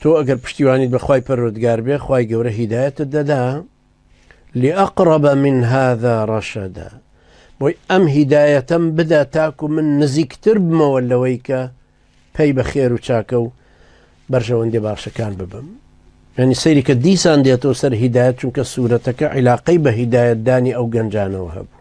تۆ ئەگەر پشتیوانیت بە خوای پەروەردگار بێ خوای گەورە هیدایەتت دەدا لأقرب من هذا رشدا بۆی ئەم هیدایەتەم بدا تاکو من نزیکتر بمەوە لەوەی کە پەی بە خێر و چاکە و بەرژەوەندی باشەکان ببم یعنی سەیری کە دیسان دێتەوە سەر هیدایەت چونکە سوورەتەکە عیلاقەی بە هیدایەتدانی ئەو گەنجانەوە هەبوو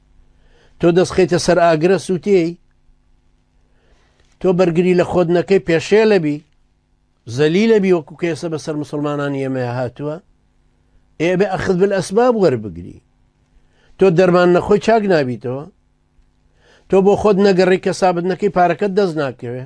تۆ دەستخیتە سەر ئاگرە سووتێی تۆ بەرگری لە خۆت نەکەی پێشێ لەبی زەلی لەبی وەکو کێسە بەسەر مسلمانانی ئێمە هاتووە ئێبێ ئەخت بل ئەسباب وەربگری تۆ دەرمان نەخۆی چاک نابیتەوە تۆ بۆ خۆت نەگەڕی کە سابت نەکەی پارەکەت دەست ناکەوێ